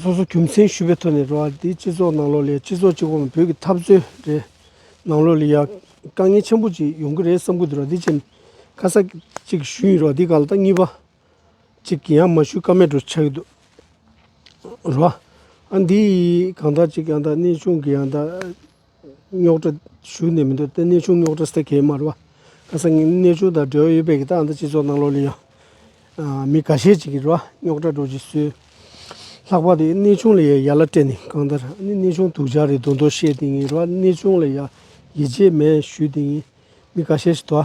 སོ་སོ་རྒྱུ་མཚན་ཞུས་པའི་ཐོག་ནས་རོགས་འདེགས་སྤྱི་ཚོགས་ནང་ལོགས་ལས་སྤྱི་ཚོགས་སྤྱི་ཁོག་ནང་བོད་ཀྱི་འཐབ་རྩོད་རེད། ནང་ལོགས་ལས་ཡ། དཀའ་ངལ་ཆེན་པོ་ཅིག་ཡོང་གི་རེད་བསམ་ཁུལ་དུ་རོགས་འདེགས་བྱས་ནས་ཁ་གསལ་ཅིག་ཞུས་ཡིན་རོགས་འདེགས་ག་ལ་དང་གཉིས་པ། ཅིག་ཡང་མ་ཞུས་ཀ་མེད་དུ་ཆགས་ཀྱི་འདུག་རོགས་ཨ་འདི་ཡིས་གང་ལྟར་ཅིག་ཡང་དག་གནས་ཆུང་གི་ཡང་དག། རྙོག་དྲ་ཞུགས་ནས་མི་འདུག་ཏེ་གནས་ཆུང་རྙོག་དྲ་སེལ་གེ་མ་རེད། ཁ་སང་གནས་ཆུང་དང་འབྲེལ་བ་ཡོད་པའི་གི་ཏང་དང་སྤྱི་ཚོགས་ནང་ལོགས་ལས་ཡང་མི་ག་ཤས་ཅིག་གིས་རེད་བ་རྙོག་དྲ་སྒྲོག་ཅིག་གསོལ། ལྷག་པར་དུ་གནས་ཆུང་ལ་ཡང་ཡ་ལ་སྤྲད་ནས་གང་ལྟར་གནས་ཆུང་དུག་ཆག་རེད་དོ་མདོ་བཤད་དེ་ངེས་རེད་བ་གནས་ཆུང་ལ་ཡང་ཡིད་ཆེས་མེད་ཞུས་དེ་ངེས་མི་ག་ཤས་ཤིག་དོ།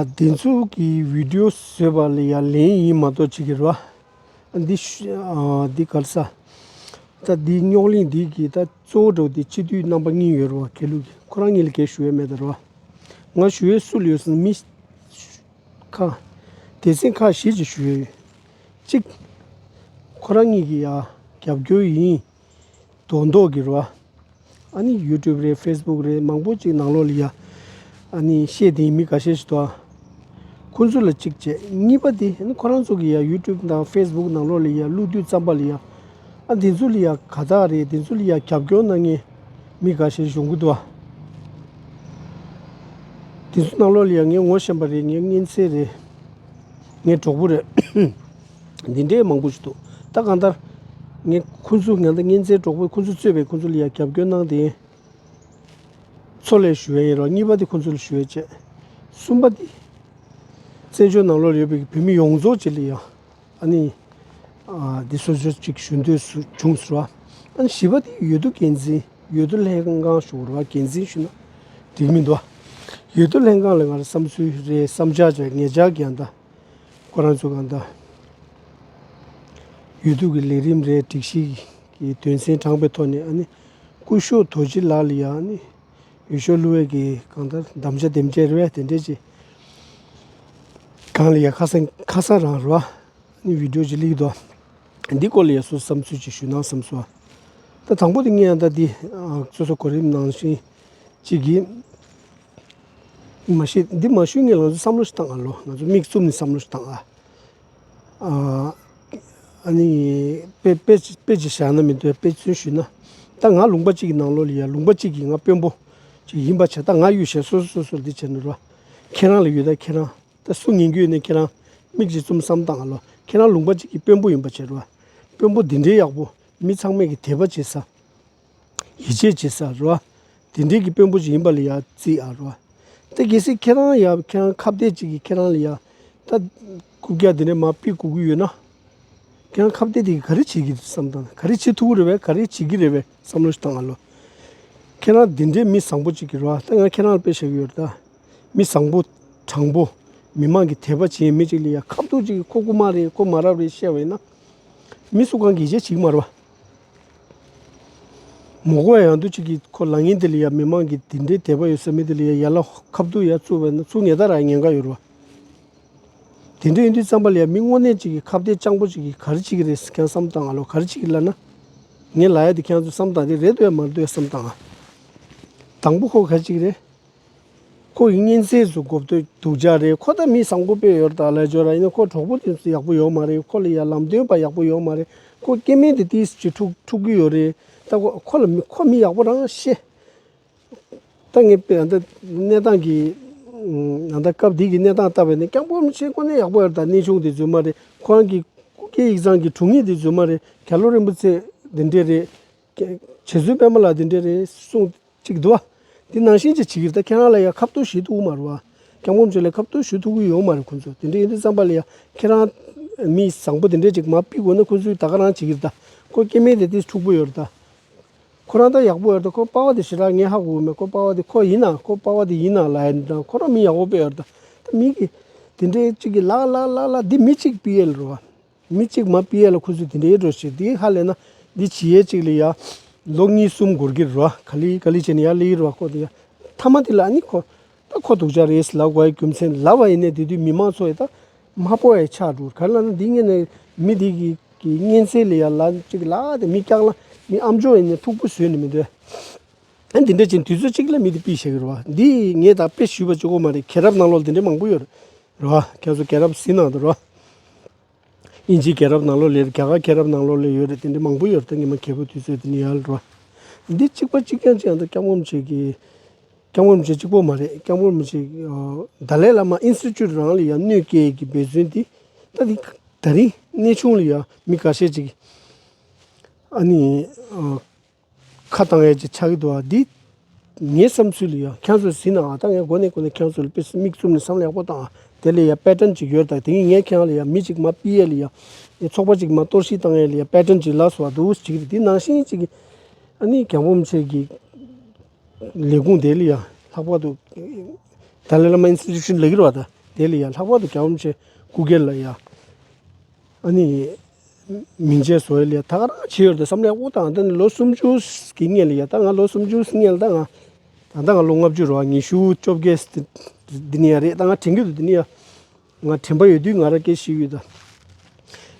བདེན་ཚུགས་ཀྱི་བིདེའུ་བཟོས་པ་ལ་ཡང་ལན་ཡིན་མ་གཏོགས་ཅིག་གི་རེད་བ། འདི་ག་ལ་ས། ད་འདི་རྙོག་གླིང་འདི་གི་ད་གཙོ་བོ་འགྲོ་འདི་སྤྱི་འཐུས་རྣམ་པ་གཉིས་ཡོད་རུང་བ་གལ་ལུགས་ཁོ་རང་གཉིས་ལ་གལ་ཞུ་འོས་མེད་དང་རུང་བ། ང་ཞུ་འོས་སུ་ལ་ཡོད་སོང་མི། ཁ། དེ་སྲིད་ཁག་བཞི་ཅིག་ཞུ་འོས་ཡོད། གཅིག། ཁོ་རང་གཉིས་ཀྱི་ཡ། རྒྱབ་སྐྱོར་ཡིན། དོ་མདོག་གི་རོ། ཨཱ་ནི YouTube རེད Facebook རེད་མང་པོ་ཅིག་ནང་ལོག་ལི་ཡ། ཨཱ་ནི་ཤེས་དེའི་མི་ག་ཤེད་ཞིག་དོ། ཁོ་ཚོ་ལ་གཅིག་བྱས་གཉིས་པ་དེ་ཨཱ་ནི་ཁོ་རང་ཚོ་གི་ཡ YouTube དང Facebook ནང་ལོག་ལི་ཡ་ཀླུ་བདུད་རྩམ་པ་ལི་ཡ། ཨཱ་འདི་ཚོ་ལི་ཡ་ག་དག་རེད་འདི་ཚོ་ལི་ཡ་རྒྱབ་སྐྱོར་གནང་མཁན་མི་ག་ཤེད་གཞུང་གི་དོ། འདི་ཚོ་ནང་ལོག་ལི་ཡ་ངས་ངོ་ཤེས་པ་རེད་ངས་མངན་ཚེ་རེད། ངས་གྲོགས་པོ་རེད། འདི་འདྲའི་མང་པོ་ཞིག་འདུག་ད་གང་ལྟར། ངས་ཁོ་ཚོའི་ང་ཚོ་གཉེན་ཚན་གྲོགས་པོས་ཁོ་ཚོས་གཙོས་པའི་ཁོ་ཚོ་ལ་ཡང་རྒྱབ་སྐྱོར་གནང་དེ། ཚོ་ལས་ཞུ་བའི་ཡིན་རོགས་གཉིས་པ་དེ་ཁོ་ཚོ་ལ་ཞུ་བའི་བྱེད། གསུམ་པ་དེ། བཙན་བྱོལ་ནང་ལོགས་ཡོད་པའི་བོད་མི་ཡོངས་རྫོགས་ཀྱི་ལ་ཡང། ཨ་ནི། དེ་སོ་སོ་ཅིག་ཞུ་འདོད་བྱུང་ཟེར་བ། ཨ་ནི་བཞི་པ་དེ་ཡོད་དོ་འགན་འཛིན་ཡོད་དོ་ལྷན་ཁང་ཞུ་རོགས་འགན་འཛིན་ཞུ་ན་འགྲིག་མི་འདུག་ཨ། ཡོད་དོ་ལྷན་ཁང་ལ་ང་རང་བསམ་ཚུལ་རེ་བསམ་བྱ་བྱ་ངེད་ཅག་གི་ཡང་ད། ཁོ་རང་ཚོ་གང་ལྟར་ཡུལ་དུས་ཀྱི་ལས་རིམ་རེ་སྒྲིག་གཞི་གི་དོན་ཚན་དྲངས་པའི་ཐོག་ནས་ཀུ་ཤོ་དོ་རྗེ་ལགས་ལ་ཡང་ཡུལ་ཤོག་གླུ་བས་ཀྱི་གང་ལྟར་གདམ་བྱ་འདེམས་ཀྱི་རེ་བས་དེ་འབྲེལ་གྱི་གང་ལ་ཡང་ཁ་སང་ཁ་སང་རང་རེ་བ་བིད་འགྲོ་གཅིག་ལེགས་འདུག་འདི་སྐོར་ལ་ཡང་སུ་བསམ་ཚུལ་གཅིག་ཞུས་ན་བསམ་སོང། ད་དང་པོ་དེ་ངས་ད་འདི་སོ་སོ་གོ་རིམ་ནང་བཞིན་གཅིག་གིས། མ་ཤེས་འདི་མ་ཞུས་ནས་ང་ཚོ་བསམ་བློ་ཞིག་བཏང་ཨ་ལོ་ང་ཚོ་མིག་བཙུམ་ནས་བསམ་བློ་ཞིག་བཏང་ཨ། ཨ་ནི་དཔེ་དཔེ་ཅིག་བཞག་ན་མི་འདོད་དཔེ་མཚོན་ཞུས་ན་ད་ང་ལུང་པ་གཅིག་གི་ནང་ལོགས་ལ་ཡ་ལུང་པ་གཅིག་གིས་ང་དཔོན་པོ་ཅིག་ཡིན་པ་བྱས་ད་ང་གཡུལ་བཞེས་སོ་སོ་སོ་སོར་འདི་བྱས་ནས་རོ། ཁྱེད་རང་ལ་ཡོད་ད་ཁྱེད་རང་ད་སུ་ངན་གྱི་ཡོད་ནས་ཁྱེད་རང་མིག་ཅིག་བཙུམ་བསམ་བཏང་ཨ་ལོ་ཁྱེད་རང་ལུང་པ་གཅིག་གི་དཔོན་པོ་ཡིན་པ་བྱས་རོ། དཔོན་པོ་འདི་འདྲའི་ཡག་པོ་མི་ཚང་མས་གི་དད་པ་བྱེད་ས། ཡིད་ཆེས་བྱེད་ས་རེད། དེ་འབྲེལ་གྱི་དཔོན་པོ་ཞིག་ཡིན་པ་ལ་ཡང་བརྩི་ཨ་རེད། ད་གལ་སྲིད་ཁྱེད་རང་ཡང་ཁྱེད་རང་ཁ་བརྡའི་གཅིག་གིས་ཁྱེད་རང་ལ་ཡང་ད་ཀུ་ཀྱ་དེ་འདྲ་མ་དཔེ་གོ་གི་ཡོད་ན། ཁྱེད་རང་ཁ་བརྡའི་དེ་གིས་ག་རེ་བྱེད་ཀྱི་རེད་བསམ་དང་ག་རེ་བྱེད་ཐུབ་ཀྱི་རེད་བས་ག་རེ་བྱེད་ཀྱི་རེད་བས་བསམ་བློ་ཞིག་བཏང་ཨ་ལོ། ཁྱེད་རང་དེ་འདྲའི་མི་བཟང་པོ་གཅིག་གིས་རེད་ད་ང་ཁྱེད་རང་ལ་དཔེ་བྱེད་ཀྱི་ཡོད་རེད་ད། མི་བཟང་པོ། དྲང་པོ། མི་མང་གི་དད་པ་བྱེད་ཡའི་མི་གཅིག་ལ་ཡང་ཁ་བརྡོ་གཅིག་གིས་ཁོ་རྐུ་མ་རེད་ཁོ་མ་རབས་རེད་བཤད་བས་ན། མི་སུ་གང་གིས་ཡིད་ཆེས་བྱེད་ཀྱི་མ་རེད་བ། མོ་སྒོ་ཡང་དུ་ཅིག་གིས་ཁོ་ལངས་ཡིན་དེ་ལ་ཡ་མི་མང་གིས་དེ་འདྲའི་དད་པ་ཡོད་ས་མིན་དེ་ལ་ཡ་ཡ་ལ་ཁབ་དུག་ཡ་བཙུགས་པས་ན་བཙུགས་ངེས་ད་ར་ངན་ག་ཡོད་ར། དེ་འདྲའི་ཡིན་དུས་རྩམ་པ་ལ་ཡ་མི་དངོས་གནས་ཅིག་གིས་ཁ་བརྡའི་སྤྱང་པོ་ཅིག་གིས་ག་རི་ཅིག་གི་རེད་ཁྱང་བསམ་བཏང་ང་ལོ་ག་རི་ཅིག་གི་ལ་ན། ངའི་ལ་ཡ་དེ་ཁྱང་ཚོས་བསམ་བཏང་དེ་རེད་འདུག་ཡ་མ་རེད་འདུག་ཡ་བསམ་བཏང་ང། དང་པོ་ཁོ་ག་རི་ཅིག་གི་རེད། ཁོ་ཡི་གཉེན་ཚལ་དུ་གོ་བསྟོད་སྡུག་ཅག་རེད་ཁོ་ད་མི་བཟང་པོ་དཔེ་ཡོར་དག་ལས་འབྱོར་ར་ཡིན་ན་ཁོ་གྲོགས་པོ་དེ་ཚོ་ཡག་པོ་ཡོད་མ་རེད་ཁོ་ལ་ཡར་ལམ་སྟོན་པ་ཡག་པོ་ཡོད་མ་རེད་ཁོ་སྐྱེ་མེད་དུ་ཏིས་ཅི་ཕྲུག་ཕྲུག་གི་ཡོད་རེད་ད་ཁོ་ཁོ་ལ་མི་ཁོ་མི་ཡག་པོ་རང་ཤེས། ད་ངས་དཔེ་ཡང་ད་གནས་སྟངས་ཀྱི་ཡང་ད་སྐབས་དེ་གི་གནས་སྟངས་ལྟ་བས་ན་སྐྱག་འབོག་མི་བྱེད་ཁོ་ནི་ཡག་པོ་ཡོད་ད་གནས་ཆུང་དེ་ཚོའི་མ་རེད་ཁོ་རང་གི་སྐུ་སྐྱེ་ཡིག་ཚང་གི་དྲུང་ཡིག་དེ་ཚོའི་མ་རེད་ག་ལོ་རིན་པོ་ཚེ་འདི་འདྲས་རེད་གྱད། བྱེད་བཟོད་པད་མ་ལ་འདི་འདྲའི་རེ་ཟུང་གཅིག་འདུག་ཨ། འདི་ནང་བཞིན་གྱི་བྱེད་ཀྱིས་ད་ཁྱེད་རང་ལ་ཡང་ཁ་བསྟོད་ཞུས་ཐུག་གི་མ་རུང་ཨ། སྐྱབས་མགོན་མཆོག་ལས་ཁ་བསྟོད་ཞུས་ཐུག་གི་ཡོད་མ་རེད་ཁོང་ཚོས་དེ་འདྲའི་ཡིན་དུས་བསམ་པ་ལ་ཡང་ཁྱེད་རང། མི་བཟང་པོ་དེ་འདྲའི་ཅིག་མ་དཔེ་དགོས་ན་ཁོང་ཚོས་ད་ག་རང་བྱེད་ཀྱིས་ད། ཁོ་སྐྱེ་མེད་དེ་དེས་འཁྲུག་པོ་ཡོད་རེད་ད། ཁོ་རང་ད་ཡག་པོ་ཡོད་རེད་ད་ཁོ་དཔའ་བ་དེ་ཞེ་དྲག་ངས་ཧ་གོ་གི་མེད་ཁོ་དཔའ་བ་དེ་ཁོ་ཡིན་ན་ཁོ་དཔའ་བ་དེ་ཡིན་ན་ལ་ཡ་ནི་ད་ཁོ་རང་མི་ཡག་པོ་དཔེ་ཡོད་རེད་ད། ད་མི་གིས་དེ་འདྲའི་ཅིག་གིས་ལ་ལ་ལ་ལ་འདི་མི་གཅིག་པི་ཨེལ་རོ་ཨ། མི་གཅིག་མ་པི་ཡེ་ལ་ཁུ་ཚུར་དེ་འདྲ་ཡེ་འགྲོ་ཞེས་དེའི་ཧ་ལས་ན་འདི་ཇི་ཡེ་གཅིག་ལས་ཡ། ལོ་གཉིས་གསུམ་འགོར་གྱིར་རོ་ག་ལི་ག་ལི་བྱས་ནས་ཡ་ལི་ཡེ་རོ་ཁོ་དེ་ཡ། མཐའ་མ་དེ་ལ་ཨ་ནི་ཁོ། ད་ཁོ་དུག་ཅག་རེས་ལ་བའི་རྒྱུ་མཚན་ལ་བ་ཡེ་ནས་དེ་དུས་མི་མང་ཚོ་ཡེ་ད། མ་པོ་ཡེ་ཆག་འགྲོ་ག་ལ་ན་འདི་ངེད་ནས་མི་དེ་གི་གི་གཉེན་སེ་ལས་ཡ་ལ་གཅིག་ལ་དེ་མི་སྐྱག་ལ་མི་ཨམ་ཅོ་ཡེ་ནས་ཐུག་པོ་བཟོས་ནས་མི་འདོད། ཨ་འདི་འདྲ་བྱས་ནས་དུས་ཚོད་གཅིག་ལ་མི་དེ་པི་བྱས་གྱི་རོ། འདིས་ངེད་ད་པེ་ཞུས་པ་ཅུ་གོ་མ་རེད་ཁེ་རབ་ནང་ལོག་དེ་འདྲ་མང་པོ་ཡོད་རེད། རོ། ཁྱེད་ཚོ་སྐྱེས་རབས་ཟིན་ནང་དུ་རོ། དབྱིན་ཇིའི་སྐྱེས་རབས་ནང་ལོགས་ལས་རྒྱ་གར་སྐྱེས་རབས་ནང་ལོགས་ལས་ཡོད་རེད་དེ་འདྲའི་མང་པོ་ཡོད་རེད་དེ་ངེད་མ་མཁས་པོ་དུས་ཚོད་དེ་ནས་ཡལ་རོ། འདི་གཅིག་པ་གཅིག་རྐྱང་གཅིག་ཡང་དུ་སྐྱབས་ངོམ་བྱེད་ཀྱི། སྐྱབས་ངོམ་བྱེད་གཅིག་པོ་མ་རེད་སྐྱབས་ངོམ་བྱེད་གདའ་ལས་བླ་མ་ཨིན་སི་ཅུད་རང་ལ་ཡང་གནོད་སྐྱེལ་གྱི་འབད་བརྩོན་དེ་ད་དེ་ད་རིང་གནས་ཆུང་ལ་ཡང་མི་ག་ཤེད་ཅིག་ཨ་ནི། ཁ་དང་ཡས་ཀྱི་ཆ་གི་དུ་བ་འདི། ངའི་བསམ་ཚུལ་ཡང་ཁྱེད་ཚོས་ཟིན་ནའང་ད་ངས་མགོ་ནས་ཀུན་ནས་ཁྱེད་ཚོ་ལ་དཔེ་མིག་བཙུམ་ནས་བསམ་ལ་ཡག་པོ་དང་དེ་ལ་ཡང་པད་ཀྲན་ཅིག་ཡོད་དང་དེ་གཉིས་ངས་ཁྱེད་རང་ལ་ཡང་མི་ཅིག་མ་པི་ཡས་ལ་ཡང་ཚོགས་པ་ཅིག་མ་གཏོར་ཤིག་དང་ཡས་ལ་ཡང་པད་ཀྲན་ཅིག་ལགས་སོ་བ་དུ་ཅིག་རེད་དེ་ནང་བཞིན་ཅིག་གིས་ཨ་ནི་གྱང་འབུམ་ཆེད་ཀྱི་ལས་ཁུངས་དེ་ལ་ཡང་ལྷག་པར་དུ་དཱ་ལའི་ལཱ་མ་ཨིན་སི་ཏི་ཅུན་ལས་ཀྱི་ར་བ་དང་དེ་ལ་ཡང་ལྷག་པར་དུ་གྱང་འབུམ་ཆེད་སྐུ་སྒེར་ལ་ཡང། ཨ་ནི། མིང་ཅན་བཟོ་ཡས་ལས་ད་ག་རང་བྱེད་ཡོད་དེ་བསམ་ལས་དབུ་ཐང་འདི་ནི་ལོ་སུམ་ཅུ་གི་སྔས་ལས་ཡ་ད་ང་ལོ་སུམ་ཅུ་སྔས་ལ་ད་ང་ད་ལྟ་ང་ལོ་ལྔ་བཅུ་རོ་ཉི་ཤུ་བཅོ་བརྒྱད་འདི་ནི་ཡ་རེད་ད་ང་དྲན་གི་འདུག་འདི་ནི་ཡ་ང་དྲན་པ་ཡོད་དུས་ང་རང་སྐད་ཤེས་ཡོད་ད་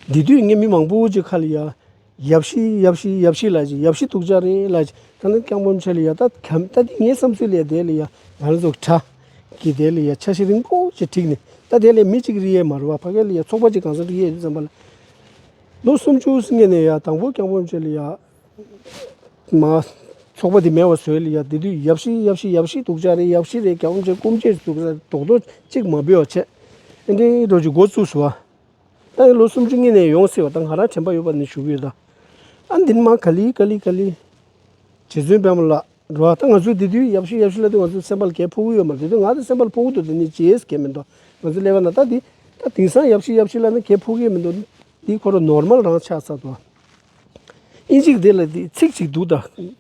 འདི་དུས་ངས་མི་མང་པོ་ཅིག་ཁ་ལ་ཡ། ཡབ་ཤི་ཡབ་ཤི་ཡབ་ཤི་ལ་ཅི་ཡབ་ཤི་ཐུགས་ཅག་རེ་ལ་ཅི་ད་ནི་སྐྱང་པོ་མཆེ་ལི་ཡ་ད་གམ་ད་དེ་ངའི་བསམ་ཚུལ་ལས་དེ་ལི་ཡ་ད་ནི་ཚོགས་གྲ་གི་དེ་ལི་ཡ་ཆ་ཤི་རིང་པོ་ཅི་ཁྲིག་ནི་ད་དེ་ལས་མི་གཅིག་རི་ཡའི་མ་རུ་བ་ཕ་ག་ལི་ཡ་ཚོགས་པ་ཅི་གང་ཟག་རི་ཡའི་རི་ཙམ་པ་ལ་ལོ་སུམ་ཅུ་སི་ངེ་ནས་ཡ་དང་པོ་སྐྱང་པོ་མཆེ་ལི་ཡ་མ་ཚོགས་པ་དེ་མེ་བ་ཟོས་ལི་ཡ་དེ་དུས་ཡབ་ཤི་ཡབ་ཤི་ཡབ་ཤི་ཐུགས་ཅག་རེ་ཡབ་ཤི་རེ་སྐྱང་པོ་མཆེ་སྐུ་མཆེ་ཟུག་ས་དོག་དོག་ཅིག་མ་བུས་བ་ཆེ་ཨེ་འདྲེ་འདྲོ་ཅི་མགོ་བཙུགས་སུ་བ། ཨ་ཡེ་ལོ་སུམ་ཅུ་གཉིས་ནས་ཡོང་ཟེར་བ་དང་ང་རང་དྲན་པ་ཡོད་པ་ནས་བཞུགས་ཡོད། ཨ་འདི་ནི་མ་ག་ལི་ཀ་ལི་ཀ་ལི། རྗེ་བཙུན་དཔལ་མོ་ལགས་འགྲོ་བ་ད་ང་ཚོས་དེ་དུས་ཡབ་ཤུལ་ཡབ་ཤུལ་ལ་དེ་ང་ཚོའི་སེམས་པ་ལ་གས་ཕོག་གི་ཡོད་མ་དེ་དུས་ང་དང་སེམས་པ་ལ་ཕོག་གི་འདུག་དེ་ནི་རྗེས་གས་མི་འདུག་ང་ཚོའི་ཀླད་པ་ན་ད་དེ་ད་དེང་སང་ཡབ་ཤུལ་ཡབ་ཤུལ་ལ་ནི་གས་ཕོག་གི་མི་འདུག་དེ་ཁོ་རུ་ནོར་མལ་རང་ཆགས་ཚར་འདུག་ཨིན་ཇིག་དེ་ལ་དེ་ཚིག་ཅིག་འདུག་ད།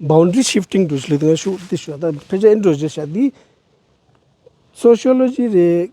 Boundary Shifting Translate ང་ཞུ་དེ་ཞུ་ད་ཕལ་ཆེར་ཨེན་ཀྲོ་ཇི་ཤ་དེའི། Sociology རེད།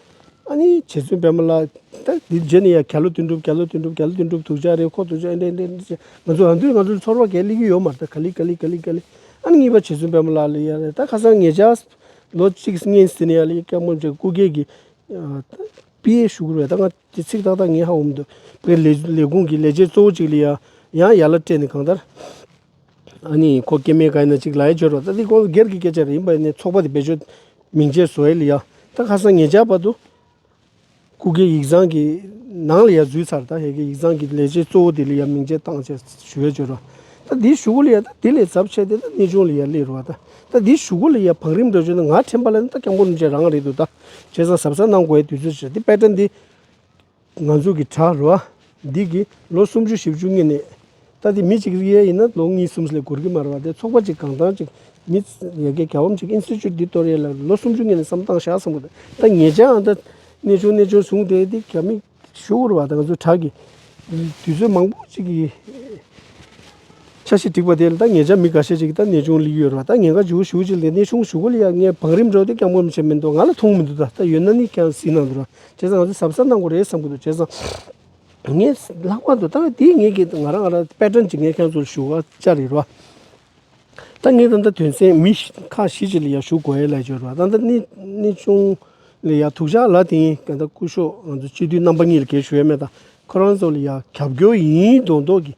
ཨ་ནི་རྗེ་བཙུན་དཔལ་མོ་ལགས། ད་འདི་རྗེས་ནས་ཡང་ག་ལོ་དོན་འགྲུབ་ག་ལོ་དོན་འགྲུབ་ག་ལོ་དོན་འགྲུབ་ཐུགས་རྗེ་ཨ་རེ་ཁོག་ཐུགས་རྗེ་ཨེ་འདྲེ་འདྲེ་འདྲེ་ཅེས་ང་ཚོ་རང་དུས་ང་ཚོའི་ཚོར་བ་གས་གླིག་གི་ཡོད་མ་རེད་ད་ག་ལི་ག་ལི་ག་ལི་ག་ལི། ཨ་ནི་གཉིས་པ་རྗེ་བཙུན་དཔལ་མོ་ལགས་ལས་ཡ་རེད་ད་ཁ་སང་ངེད་ཅག་ལོ་གཅིག་གི་སྔན་ཟིན་ནས་ཡ་ལི་ཡ་སྐྱག་མོ་མཇལ་སྐུ་སྒེར་གྱི་པི་ཡའི་ཞུ་སྒོར་བས་ད་ང་དེ་ཚིག་ཏག་ཏག་ངེས་ཧ་འོང་མི་འདུག་བོད་ལས་ལས་ཁུངས་ཀྱི་ལས་བྱེད་གཙོ་བོ་ཅིག་ལས་ཡ་ཡང་ཡ་ལ་སྤྲད་ནས་གང་ལྟར། ཨ་ནི་ཁོ་སྐྱེ་མེད་ཀ་ན་ཅིག་ལའེ་བྱོས་རོགས་ད་འདི་ཁོང་སྒེར་གྱི་སྐད་ཆ་རེད་ཡིན་པ་ནས་ཚོགས་པ་དེ་བེད་སྤྱོད་མིང་ཆད་བཟོ་ཨེ་ལི་ཡ་ད་ཁ་སང་ངེད་ཅག་བར་དུ་སྐུ་སྒེར་ཡིག་ཚང་གི་ནང་ལི་ཡ་བཟོས་ཚར་ད་ཧེ་གི་ཡིག་ཚང་གི་ལས་བྱེད་གཙོ་བོ་དེ་ལི་ཡ་མིང་ཆད་བཏང་བྱས་ཞུ་བེད་སྤྱོད་རོགས་ད་འདི་ཞུ་གོ་ལི་ཡ་ད་དེ་ལས་ཚབ་ཆེ་དེ་ད་གནས་ཆུང་ལི་ཡ་ལས་རོགས་ད་ད་འདི་ཞུ་གོ་ལི་ཡ་བང་རིམ་འགྲོ་བྱོས་ད་ང་ཁྲེན་པ་ལ་ནི་ད་སྐྱག་འབུ་རིན་ཆེན་རང་རེད་འདུག་ད་བྱས་ཚང་ཟབ་ས་གནང་དགོས་དུས་ཚོད་ཆེ་རེད་འདི་དཔེ་དྲ་འདི། ང་ཚོ་གི་བྲག་རི་བ་འདི་གིས་ལོ་སུམ་ཅུ་བཞི་བཅུ་སྔས་ནས་ད་ལྟའི་མི་གཅིག་རིགས་དབྱེ་ཡིན་ན་ལོ་གཉིས་གསུམ་ལས་གོར་གི་མ་རེད་བ་དེ་ཚོགས་པ་གཅིག་གང་ཐང་ཅིག་མི་ཡལ་གའི་ག་བམ་ཅིག Institute འདི་གཏོར་ཡས་ལ་ལོ་སུམ་ཅུ་སྔས་ནས་བསམ་སྟངས་བཞག་བསམ་གོ་ད་ངེད་ཅག་འང་ད་གནས་ཆུང་གནས་ཆུང་བཟུང་དེ་འདི་ག་མི་ཞུ་བོར་བ་ད་ང་ཚོའི་བྲག་གི་དུས་ཚོད་མང་པོ་ཅིག་གི། ཆ་ཞིག་བསྒྲིགས་པ་དེ་ལྟ་ངེས་ཆ་མི་འགའ་ཤས་ཅིག་གིས་ད་ནད་ཆུང་ལི་ཡོད་རེད་བ་ད་ངེས་འགའ་ཇུའུ་ཞུའུ་ཅིག་ལས་ནད་ཆུང་ཞུ་གོ་ལི་ཡ་ངས་བང་རིམ་འགྲོ་དེ་སྐྱབས་མགོན་བྱེད་མི་འདུག་ང་ལ་མཐོང་མི་འདུག་ད་ད་ཡོད་ན་ནི་ཀྱང་གཟིགས་གནང་འདུག་བྱས་ཙང་ང་ཚོས་གཟབ་གཟབ་གནང་དགོས་རེད་བསམ་གི་འདུག་བྱས་ཙང་ངས་ལྷག་པར་དུ་ད་དེའི་ངེས་ཀྱི་ང་རང་ང་རང་དཔེ་དྲན་གྱིས་ངས་ཁྱེད་ཚོ་ལ་ཞུ་བ་བཅར་ཡོད་རེད་བ། ད་ངས་ད་ད་དོན་ཚན་མི་ཁག་བཞི་ཅིག་ལ་ཡང་ཞུ་དགོས་ཡོད་ལ་ཡོད་རེད་བ་ད་ད་ནད་ནད་ཆུང་ལི་ཡ་ཐུགས་ཇག་ལ་དེ་ཡིན་ད་སྐུ་ཞོགས་ང་ཚོ་སྤྱི་འཐུས་རྣམ་པ་གཉིས་ལ་གལ་ཞུ་ཡ་མེད་ད་ཁོ་རང་ཚོ་ལ་ཡང་རྒྱབ་སྐྱོར་ཡིན་མདོག་མདོག་གིས་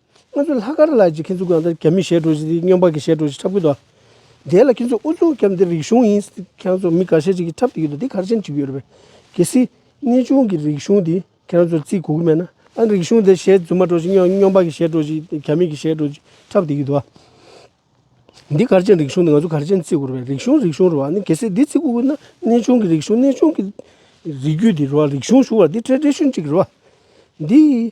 ང་ཚོའི་ལྷག་དཀར་ལ་ཅིག་ཁྱེད་ཚོ་གང་ལྟར་རྒྱ་མི་ཞེད་འགྲོ་ཞིག་སྙོམས་པ་གི་ཞེད་འགྲོ་ཞིག་འཁྲབ་གི་འདུག་དེ་ལ་ཁྱེད་ཚོ་ཨུ་ཚུགས་རྒྱབ་འདི་རིག་གཞུང་ཡིན་ཁྱེད་ཚོ་མི་ག་ཤེད་ཅིག་གི་འཁྲབ་ཏུ་ཡོད་འདུག་འདི་གར་ཆེན་ཅིག་ཡོད་རེད་པས་གལ་སྲིད་གནས་ཆུང་གི་རིག་གཞུང་འདི་ཁྱེད་ཚོ་བརྩི་དགོས་ཀྱི་མེད་ན་ཨ་རིག་གཞུང་འདི་ཞེད་རྫུན་མ་འགྲོ་ཞིག་སྙོམས་པ་གི་ཞེད་འགྲོ་ཞིག་རྒྱ་མི་གི་ཞེད་འགྲོ་ཞིག་འཁྲབ་ཏུ་ཡོད་འདུག་འདི་གར་ཆེན་རིག་གཞུང་འདི་ང་ཚོ་གར་ཆེན་བརྩི་དགོས་རེད་པས་རིག་གཞུང་རིག་གཞུང་རེད་བ་འདི་གལ་སྲིད་འདི་བརྩི་དགོས་ཀྱི་ན་གནས་ཆུང་གི་རིག་གཞུང་གནས་ཆུང་གི་རིགས་རྒྱུད་འདི་རེད་བ་རིག་གཞུང་ཞུ་བ་འདི་ཁྲལ་འབྲས་ཤུན་ཅིག་རེད་བ་འདི་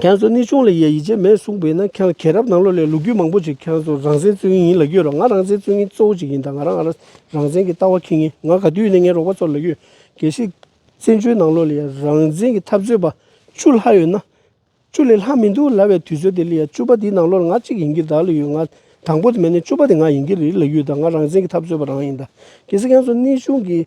ཁྱེད་ཚོ་གནས་ཆུང་ལ་ཡ་ཡིད་ཆེས་མེད་གསུངས་པས་ན་ཁྱེད་ཁྱེད་རབས་ནང་ལོགས་ལས་ལོ་རྒྱུས་མང་པོ་ཞིག་ཁྱེད་ཚོ་རང་བཙན་རྩོད་མཁན་ཡིན་ལ་ཡོད་རོགས་ང་རང་བཙན་རྩོད་མཁན་གཙོ་བོ་ཞིག་ཡིན་ད་ང་རང་རང་རང་བཙན་གྱི་ལྟ་བ་ཁེངས་ངེས་ང་ག་དུས་ཡིན་ན་ངའི་རོགས་པ་ཚོར་ལ་ཡོད་གལ་སྲིད་བཙན་བྱོལ་ནང་ལོགས་ལ་ཡ་རང་བཙན་གྱི་འཐབ་རྩོད་པ་བཅུ་ལྷག་ཡོད་ན། བཅུ་ལས་ལྷག་མི་འདུག་ལ་བའི་དུས་ཚོད་དེ་ལ་ཡ་བཅུ་པ་དེའི་ནང་ལོགས་ལ་ང་གཅིག་ཡིན་གྱི་ད་ལ་ཡོད་ང་དང་པོ་དེ་མེད་ན་བཅུ་པ་དེ་ང་ཡིན་གྱི་རེད་ལ་ཡོད་ད་ང་རང་བཙན་གྱི་འཐབ་རྩོད་པ་རང་ཡིན་ད་གལ་སྲིད་ཁྱེད་ཚོ་གནས་ཆུང་གི།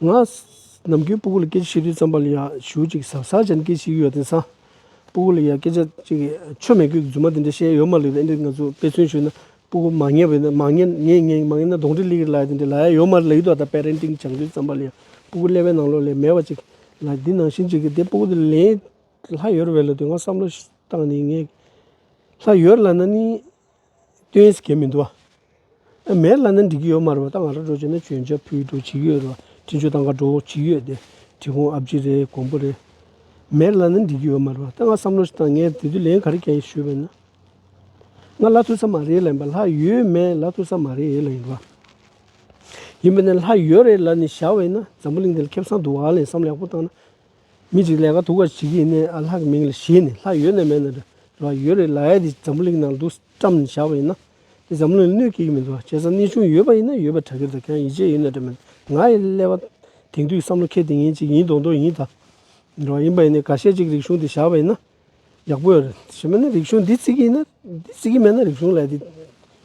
ང། ནམ་རྒྱུན་སྤུ་གུ་ལ་སྐད་ཆ་བཤད་དུས་རྩམ་པ་ལ་ཡང་ཞུ་གཅིག་ཟབ་ས་ཅན་སྐད་ཤིག་ཡོད་དེ་སང། སྤུ་གུ་ལ་ཡང་སྐད་ཆ་གཅིག་ཆོ་མེད་གི་རྫུན་མ་དེ་འདྲ་བཤད་ཡོད་མ་ལུས་པས་ཨེ་འགྲིག་ང་ཚོས་དཔེ་མཚོན་ཞུས་ན་སྤུ་གུ་མ་ངན་བས་ན་མ་ངན་ངན་ངན་མ་ངན་ན་གདོང་འདྲེ་ལི་གིར་ལ་ཡ་དེ་འདྲ་ལ་ཡ་ཡོད་མ་ལུས་ད་ལྟ Parenting སྦྱང་དུས་རྩམ་པ་ལ་ཡང་སྤུ་གུ་ཀླད་པའི་ནང་ལོགས་ལས་མེད་པ་གཅིག་ལ་དེ་ནང་བཞིན་གཅིག་གིས་དེ་སྤུ་གུ་དེ་ལེན་ལྷ་ཡོད་རེད་བས་ལ་དེ་ང་བསམ་བློ་བཏང་ནས་ངས་ལྷ་ཡོད་ལ་ན་ནིང། སྟོན་ཟེར་མཁན་མི་འདུག་ཨ། མེད་ལ་ནི་འགྲིག་གི་ཡོད་མ་རེད་བ་ད་ང་རང་འགྲོ་བྱས་ན་བྱོན་ཆ་ཕུལ་འགྲོ་བྱེད་ཀྱི་ཡོད་རེད་བ་དྲིན་ཆོས་དང་ག་འགྲོ་བྱེད་ཀྱི་ཡོད་དེ་དྲི་ཁུང་ཨ་བརྗིད་རེད་གོང་བུ་རེད། མེད་ལ་ནི་འགྲིག་གི་ཡོད་མ་རེད་བ་ད་ང་བསམ་བློ་ཞིག་བཏང་ངས་དེ་དུས་ལན་ག་རེ་བྱས་ཞུས་པས་ན། ང་ལ་ཐུག་ས་མ་རེད་ལ་ཡིན་པ་ལྷ་ཡོད་མེད་ལ་ཐུག་ས་མ་རེད་ལ་ཡིན་པ། ཡིན་པས་ན་ལྷ་ཡོད་རེད་ལ་ནི་བཞག་བས་ན་འཛམ་བུ་གླིང་འདི་ལ་ཁེབས་སང་འདུག་བ་ལ་ཡིན་བསམ་བློ་ཡག་པོ་བཏང་ན། མི་ཅིག་ལས་ཀ་དུ་བ་བྱེད་ཀྱི་ཡིན་ནས་ཨ་ལྷག་གི་མིང་ལ་བྱས་ནས་ལྷག་ཡོད་ནས་མེད་ནས་འགྲོ་བ་ཡོད་རེད་ལ་ཨེ་དེ་འཛམ་བུ་གླིང་ནང་འདུག་བཀྲམ་ནས་བཞག་པ་ཡིན་ན་དེ་འཛམ་བུ་གླིང་ལ་གནོད་སྐྱེལ་གྱི་མི་འདུག་བྱས་ཙང་གནས་ཆུང་ཡོད་པ་ཡིན་ན་ཡོད་པ་གྲ་གི་འདུག་ཀྱང་ཡིད་ཆེས་ཡོད་ནས་འགྲོ་མི་འདུག་ང་ཡི་ཀླད་པ་དེང་དུས་བསམ་བློ་ཁེ་དེ་ངེད་ཅིག་ཡིན་མདོག་མདོག་ཡིན་ད་འགྲོ་བ་ཡིན་པ་ཡིན་ནས་ག་ཤེད་ཅིག་རིག་གཞུང་དེ་བཞག་པ་ཡིན་ན་ཡག་པོ་ཡོད་རེད་བྱས་མེད་ན་རིག་གཞུང་འདི་བརྩི་གི་ན་འདི་བརྩི་གི་མེད་ན་རིག་གཞུང་ལ་དེ་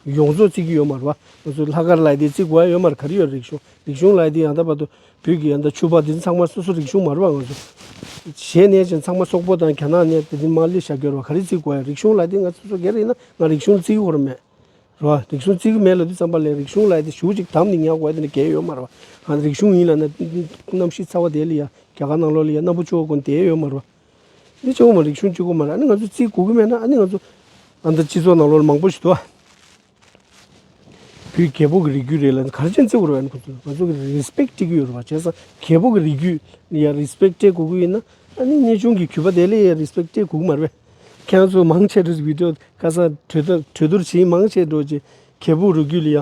ཡོངས་རྫོགས་བརྩི་གི་ཡོད་མ་རེད་བ་ང་ཚོ་ལྷག་དཀར་ལ་དེ་བརྩི་དགོས་ཡ་ཡོད་མ་རེད་ག་རེ་ཡོད་རིག་གཞུང་རིག་གཞུང་ལ་དེ་ཡང་དག་པ་དུ་བོད་ཀྱི་ཡང་དག་ཆོས་པ་དེ་ཚང་མ་སོ་སོ་རིག་གཞུང་མ་རེད་བ་ང་ཚོ་གཞན་ནས་ཀྱང་ཚང་མ་སོག་པོ་དང་གྱ་ནག་ནས་དེ་དེ་མ་ལས་ཞྭ་གྱོར་བ་ག་རེ་བརྩི་དགོས་ཡ་རིག་གཞུང་ལ་དེ་ང་ཚོ་སོ་ག་རེ་ཡིན་ན་ང་རིག་གཞུང་བརྩི་གི་ཁོ་ར་མེད་རེད་བ་རིག་གཞུང་བརྩི་གི་མེད་ལ་དེ་ཙམ་པ་ལས་རིག་གཞུང་ལ་དེ་ཞུ་ཅིག་དམ་ནས་ཉག་དགོས་དེ་ནས་གས་ཡོད་མ་རེད་བ་ང་རིག་གཞུང་ཡིན་ལ་ན་རྣམ་ཤེས་ཚ་བ་དེ་ལ་ཡ་གྱ་ག་ནང་ལོགས་ལ་ཡ་རྣམ་པོ་ཅོག་ཀུན་དེ་ཡོད་མ་རེད་བ། ནི་ཅང་མ་རིག་གཞུང་གཅིག་གོ་མ་རེད་ཨ་ནི་ང་ཚོ་རྩིས་གོ་གི་མེད་ན་ཨ་ནི་ང་ཚོ་ཨ་མདོ་སྤྱི་ཚོགས་ནང་ལོག་ན་མང་པོ་ཞིག་འདུག་ཨ། བོད་རྒྱལ་པོ་གི་རིགས་རྒྱུད་རེད་ལ་ག་རེ་ཅན་བརྩི་གོ་རོ་ཨ་ནི་ཁོ་ཚོ་ང་ཚོ་གི Respect སྤྲད་ཀྱི་ཡོད་རེད་བ་བྱས་ཙང་རྒྱལ་པོ་གི་རིགས་རྒྱུད་ནི་ཡ Respect སྤྲད་གོ་གི་ཡོད་ན་ཨ་ནི་གནས་ཆུང་གི་གུས་པ་དེ་ལས་ཡ Respect སྤྲད་གོ་གི་མ་རེད་པས། ཁྱེད་རང་ཚོ་མང་ཆེ་བསྒྲུབས་ཀྱི་འདུག་ཁ་སང་གྲོས་བསྡུར་བྱེད་མང་ཆེ་འགྲོ་རྗེས་རྒྱལ་པོ་རུས་རྒྱུད་ལ་ཡ་